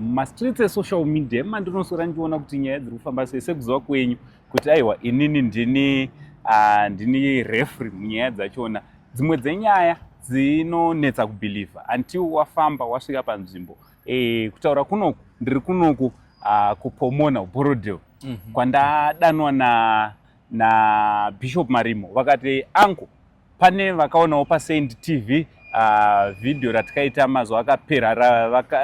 mumastreets esocial media mandinoswera ndichiona kuti nyaya dziri kufamba sei sekuziva kwenyu kuti aiwa inini ndini uh, ndini refry munyaya dzachona dzimwe dzenyaya dzinonetsa kubhilivha until wafamba wasvika panzvimbo e, kutaura kunoku ndiri kunoku uh, kupomona uborodel mm -hmm. kwandadanwa na nabishop marimo vakati angu Pane vakaonawo paSaint TV uh, ah, video ratikaita mazuva akapera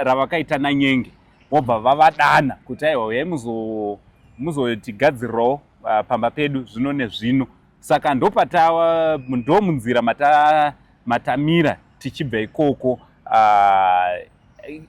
ravakaita ra, nanyenge vobva vavadana kuti aiwa uyai muzotigadzirirawo uh, ah, pamba pedu zvino nezvino saka ndopatawa ndomunzira mata, matamira tichibva ikoko uh,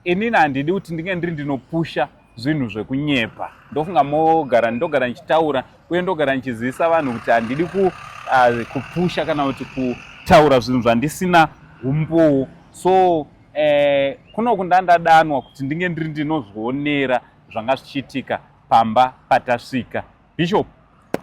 inini handidi kuti ndinge ndiri ndinopusha zvinhu zvekunyepa ndofunga mogara ndogara ndichitaura uye ndogara ndichizivisa vanhu kuti handidi ku, uh, kupusha kana kuti kutaura zvinhu zvandisina umbowo so eh, kuno kunda ndadanwa kuti ndinge ndiri ndinozvionera zvanga zvichiitika pamba patasvika Bishop.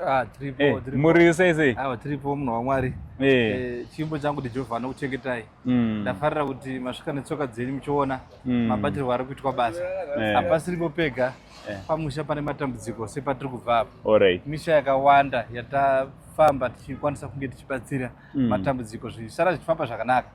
Ah, tripo, hey, eh, tripo. Muri sei sei? Awa ah, tripo munhu waMwari. Hey. Eh. Hey, eh, chimbo changu ndi Jehovah anokuchengetai. Mm. Ndafarira kuti masvika netsoka dzenyu muchiona mm. mabatirwo ari kuitwa basa. Hey. Hapasiripo pega. Hey. Pamusha pane matambudziko sepatiri kubva apo. Alright. Misha yakawanda yatafamba tichikwanisa kunge tichibatsira mm. matambudziko zvisara zvichifamba zvakanaka.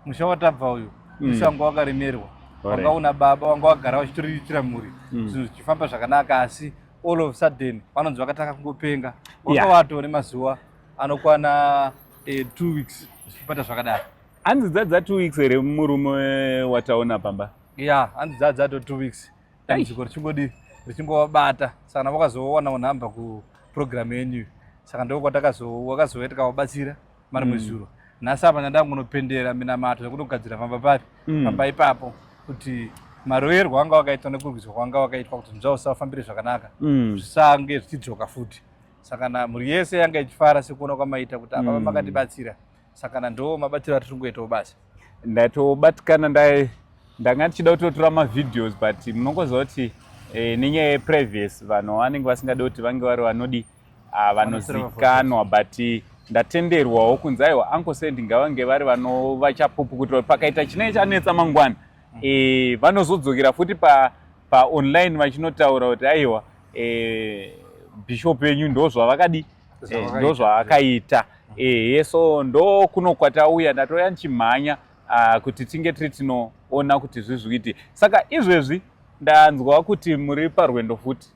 Musha watabva uyu. Mm. Musha wanga wakaremerwa. Wanga una baba wanga wagara wachitoriritira mhuri. Mm. Zvinhu zvichifamba zvakanaka asi all of sudden vanonzi vakatanga kungopenga wanga watore mazuva anokwana eh, two weeks zvichipata zvakadaro hanzi dzadza two weeks here murume wataona pamba ya hanzi dzadza to two weeks dambudziko richingodi richingovabata saka navo vakazowana unhamba kuprogramu yenyu saka ndoko kwatakazo wakazoita kavabatsira mari mwezuro mm. nhasi apa ndandangunopendera minamato yakunogadzira pamba papi mm. pamba ipapo kuti maroyerwo anga wakaitwa nekurwiswa kwanga wakaitwa kuti zvinzva usafambire zvakanaka mm. zvisange zvichidzoka futi sakana mhuri yese yanga ichifara sekuona kwamaita kuti apapa mm. makatibatsira sakana ndo mabatsiro atiri kungoitawo basi ndatobatikana ndai ndanga ndichida kutotora mavideos but munongoziva kuti eh, nenyaya yeprivacy vanhu vanenge vasingade kuti vange vari vanodii ah, vanozikanwa but ndatenderwawo kunzi aiwa uncle said ngavange vari vanova chapupu kuti pakaita chinenge chanetsa mangwana mm. e, vanozodzokera futi pa, pa online vachinotaura kuti aiwa e, eh, bishop yenyu ndozvavakadi e, ndozvaakaita ehe so ndo kuno kwatauya ndatouya ndichimhanya ah, kuti tinge tiri tinoona kuti zvizvikuiti saka izvezvi ndanzwa kuti muri parwendo futi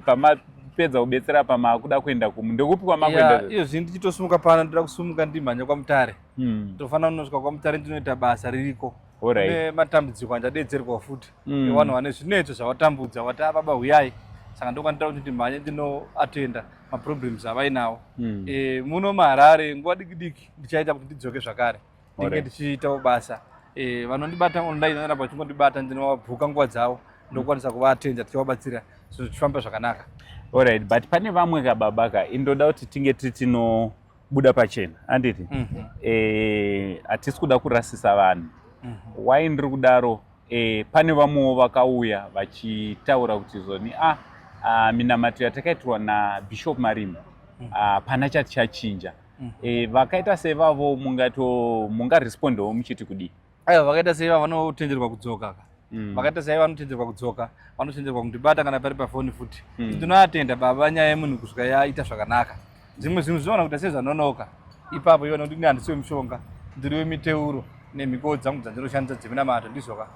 pamapedza kubetsera pamakuda kuenda kumu ndokupi kwamakuenda iyo zvinhu ndichitosumuka pano ndoda kusumuka ndimhanya kwamutare hmm. tofanira kunosvika kwamutare ndinoita basa ririko ne matambudziko andadedzerwa futi hmm. evanhu vane zvinetso zvavatambudza vati ababa ah, huyai saka ndokwandiita kuti ndimhanye ndinoatenda maproblems avainawo hmm. eh, muno maharare nguva dikidiki ndichaita kuti ndidzoke zvakare ndinge ndichiitawo basa eh, vanondibata online vanoramba vachingondibata ndinovabhuka nguva dzavo ndokwanisa kuvatenda tichivabatsira zvinhu zvichifamba zvakanaka orit but pane vamwe ka baba ka indoda kuti tinge tiri tinobuda pachena anditi mhm. eh, hatisi mm -hmm. e, kuda kurasisa vanhu mm -hmm. why ndiri kudaro e, pane vamwewo vakauya vachitaura kuti zoni a ah, ah, minamato yatakaitirwa nabishop marima mhm. ah, hapana chati chachinja mm. e, vakaita sevavo mungato mungarespondawo muchiti kudii aiwa vakaita seiva vanotenderwa kudzoka ka mm. vakaita seiva vanotenderwa kudzoka vanotenderwa kundibata kana pari pafoni futi mm. ndinoatenda baba nyaya yemunhu kusvika yaita zvakanaka zvimwe zvinhu zvinoona kuita sezvanonoka ipapo iona kuti ndihandisiwe mushonga ndiri wemiteuro nemhiko dzangu dzandinoshandisa dzeminamato ndizvoka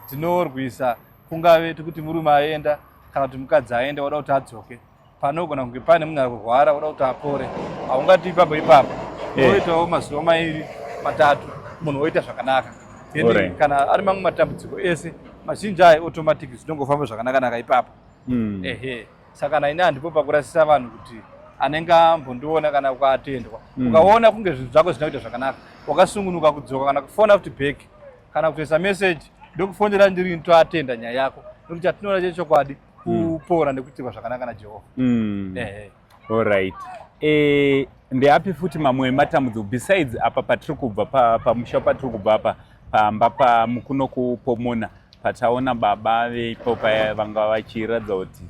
dzinorwisa kungave tikuti murume aenda kana kuti mukadzi aenda wada kuti adzoke panogona kunge pane munhu ari kurwara oda kuti apore haungati ipapo ipapo eh. oitawo mazuva mairi matatu munhu oita zvakanaka kana ari mamwe matambudziko ese mazhinji ayo automatic zvinongofamba zvakanakanaka ipapo hmm. ehe saka naine handipo pakurasisa vanhu kuti anenge ambondiona kana ukatendwa hmm. ukaona kunge zvinhu zvako zvisina kuita zvakanaka wakasungunuka kudzoka kana kufona futi back kana kutoisa message ndokufonera ndiri ntoatenda nyaya yako nekuti atinoona chechokwadi mm. kupora nekuitirwa zvakanaka najehovha mm. eh. allright eh, ndeapi futi mamwe ematambudziko besides apa patiri kubva pamusha pa patiri kubva apa pamba pamukuno kupomona pataona baba veipo paya vanga vachiratidza kuti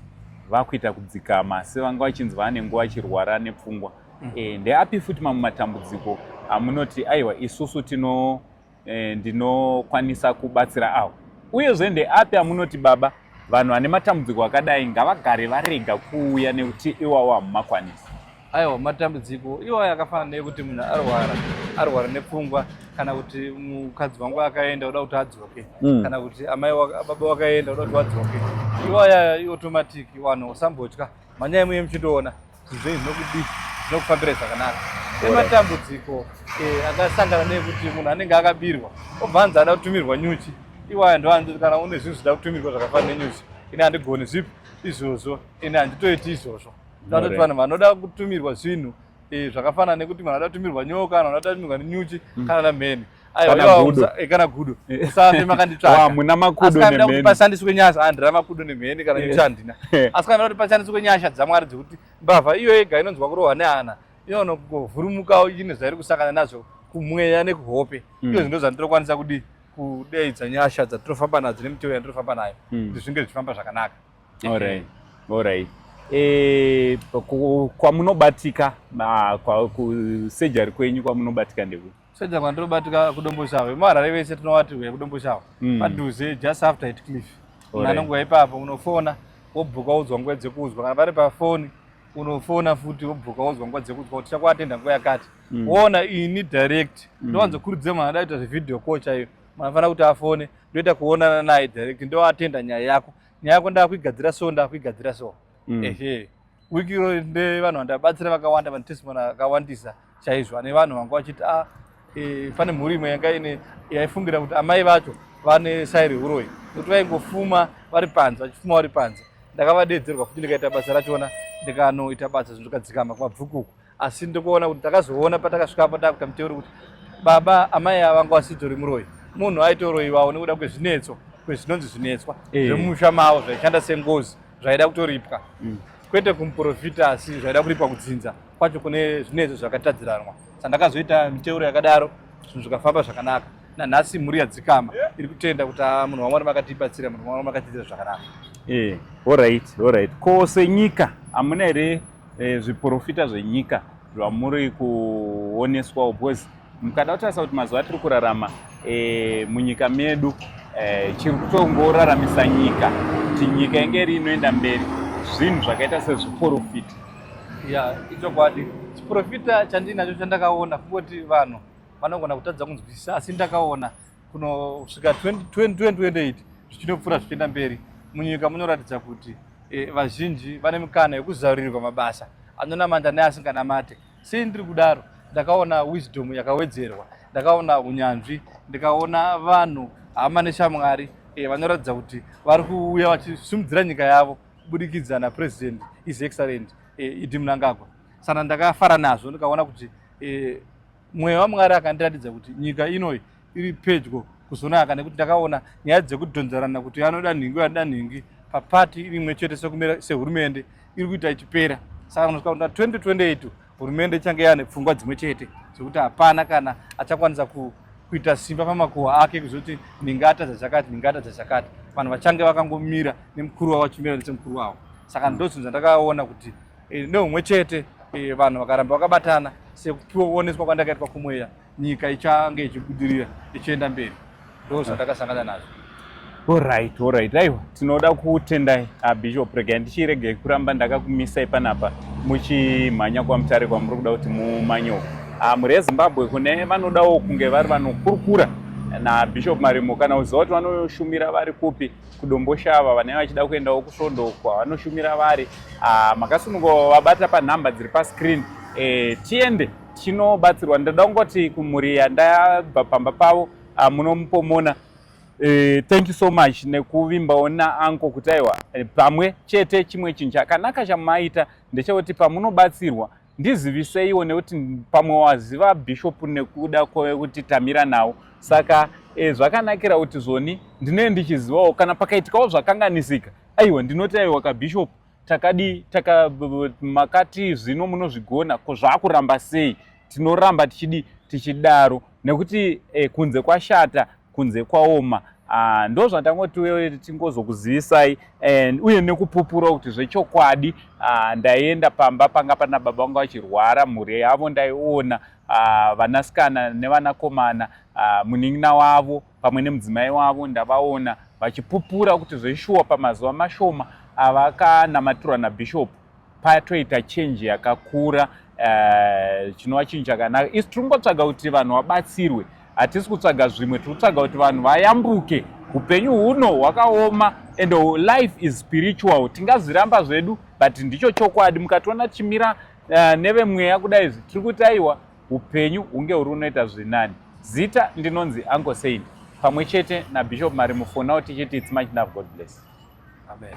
vakuita kudzikama asi vanga vachinzwa ane nguva achirwara nepfungwa mm. eh, ndeapi futi mamwe matambudziko amunoti aiwa isusu tino eh, ndinokwanisa kubatsira awo uyezve ndeapi amunoti baba vanhu vane matambudziko akadai ngavagare varega kuuya nekuti iwawo hamumakwanisi aiwa matambudziko iwayo akafanana nekuti munhu arwara arwara nepfungwa kana kuti mukadzi wangu akaenda uda kuti adzoke mm. kana kuti amai baba wakaenda uda kuti wadzoke iwaya iotomatic vanhu usambotya manyaya muye muchitoona Zvinhu zvinokudii zvinokufambira zvakanaka nematambudziko eh, akasangana neekuti munhu anenge akabirwa obva anzi ada kutumirwa nyuchi iwaya ndoanzi kana une zvinhu zvida kutumirwa zvakafana nenyuchi ini handigoni zvipi izvozvo ini handitoiti izvozvo tatoti vanhu vanoda kutumirwa zvinhu eh, zvakafanana nekuti munhu anoda kutumirwa nyoka kana anoda kutumirwa nenyuchi mm. kana namheni kana gudo usafe makanditsvaka muna makudo nemheni kuti pashandiswe nyasha handira makudo nemheni kana nyasha handina asi kana kuti pashandiswe nyasha dzamwari dzekuti mbavha iyo yega inonzwa kurohwa nehana inonongovhurumukawo ine zvairi kusangana nazvo kumweya nekuhope mm. iyo zvinto zvandirokwanisa kudii kudeidza nyasha dzatirofamba nadzo nemiteo yandirofamba nayo mm. kuti zvinge zvichifamba zvakanaka orit orit eh, kwamunobatika kusurgery kwenyu kwamunobatika ndekuti Soja kwandiri kubatika kuDomboshava. VemuHarare vese tinovati huya kuDomboshava. Mm. Padhuze just after it cliff. Right. Nanonguva ipapo unofona wobhuka wodzwa nguva dzekuzwa kana vari pafoni unofona futi wobhuka wodzwa nguva dzekuzwa kuti chakuatenda nguva yakati mm. woona ini direct mm. ndowanzokurudzira mwana ada kuita zvevideo call chaiyo mwana fanira kuti afone ndoita kuonana naye direct ndoatenda nyaya yako nyaya yako ndakuigadzira so ndakuigadzira so mm. ehe wiki iro ndevanhu vandabatsira vakawanda vanotestimony akawandisa chaizvo ane vanhu vanga vachiti a ah, e, pane mhuri imwe yanga ine yaifungira kuti amai vacho vane sai reuroyi nokuti vaingofuma vari panze vachifuma vari panze ndakavadeedzerwa futi ndikaita basa rachona ndikanoita basa zvinhu zvikadzikama kumabvukuku asi ndokuona kuti takazoona patakasvikapo takuta muteuri kuti baba amai ava vanga vasitori muroyi munhu aitoroiwawo nekuda kwezvinetso kwezvinonzi zvinetswa eh. zvemusha mavo zvaishanda sengozi zvaida kutoripwa mm. kwete kumuprofita asi zvaida kuripwa kudzinza kwacho kune zvinetso zvakatadziranwa sandakazoita miteuro yakadaro zvinhu zvikafamba zvakanaka nanhasi mhuri yadzikama iri kutenda kuti ah, munhu wamwari makatibatsira munhu wamwari makatiitira zvakanaka eh, orit orit ko senyika hamuna here e, zviporofita zvenyika zvamuri kuoneswawo because mukada kutarisa kuti mazuva atiri kurarama e, munyika medu e, chiri kutongoraramisa nyika kuti nyika inge iri inoenda mberi zvinhu zvakaita sezviporofita ya ichokwadi chiporofita chandinacho chandakaona kungoti vanhu vanogona kutadza kunzwisisa asi ndakaona kunosvika 2028 zvichinopfuura zvichienda mberi munyika munoratidza kuti e, vazhinji vane mikana yekuzarurirwa mabasa anonamata neasinganamate sei ndiri kudaro ndakaona wisdom yakawedzerwa ndakaona unyanzvi ndikaona vanhu hama neshamwari e, vanoratidza kuti vari kuuya vachisimudzira nyika yavo kubudikidza napresident is excellent e, idi munangagwa sana ndakafara nazvo ndikaona kuti e, mweya wamwari akandiratidza kuti nyika inoi iri pedyo kuzonaka nekuti ndakaona nyaya dzekudhonzerana kuti anoda nhingi anoda nhingi papati iri imwe chete sekumira sehurumende iri kuita ichipera saka nosvika kuti na 2028 hurumende ichange yane pfungwa dzimwe chete dzekuti hapana kana achakwanisa ku kuita simba pamakuhwa ake kuzoti ndingata dzachakati ndingata dzachakati vanhu vachange vakangomira nemukuru wavo vachimira nesemukuru wavo saka ndozvinhu zvandakaona kuti e, neumwe chete e, vanhu vakaramba vakabatana sekupiwa kuoneswa kwandakaitwa kumweya nyika ichange ichibudirira ichienda mberi ndo zvandakasangana nazvo orit orit aiwa tinoda kutendai abishop regai ndichiregei kuramba ndakakumisai panapa muchimhanya kwamutare kwamuri kuda kuti mumanye uku ah, mhuri yezimbabwe kune vanodawo kunge vari vanokurukura nabishop marimo kana uziva kuti vanoshumira vari kupi kudomboshava vanenge vachida kuendawo kusvondo uko havanoshumira vari ah, makasunungo vabata panhamba dziri pascreen eh, tiende tinobatsirwa ndoda kungoti kumhuri yandabva pamba pavo ah, munomupomona eh, thank you so much nekuvimbawo naanko kuti aiwa pamwe chete chimwe chinhu chakanaka chamaita ndechekuti pamunobatsirwa Ndiziviseiwo nekuti pamwe waziva bishop nekuda kwekuti tamira nawo saka e, zvakanakira kuti zvoni ndinee ndichizivawo kana pakaitikawo zvakanganisika aiwa ndinoti aiwa kabishop takadi taka makati zvino munozvigona ko zvakuramba sei tinoramba tichidi tichidaro nekuti e, kunze kwashata kunze kwaoma ah, ndo zvatangoti tingozokuzivisai and uye nekupupura kuti zvechokwadi ah, ndaienda pamba panga pana baba vangu vachirwara mhuri yavo ndaiona ah, vanasikana nevanakomana munin'ina wavo pamwe nemudzimai wavo ndavaona vachipupura kuti zveshuwa pamazuva mashoma avakanamatirwa nabhishopu patoita change yakakura eh, chinova chinhu chakanaka isi tiri kungotsvaga kuti vanhu vabatsirwe hatisi kutsvaga zvimwe tiri kutsvaga kuti vanhu vayambuke upenyu huno hwakaoma and life is spiritual tingazviramba zvedu but ndicho chokwadi mukationa tichimira uh, nevemweya kudai izvi tiri kuti aiwa upenyu hunge huri unoita zvinani zita ndinonzi uncle saint pamwe chete nabishop mari mufonao tichiti its much love god bless amen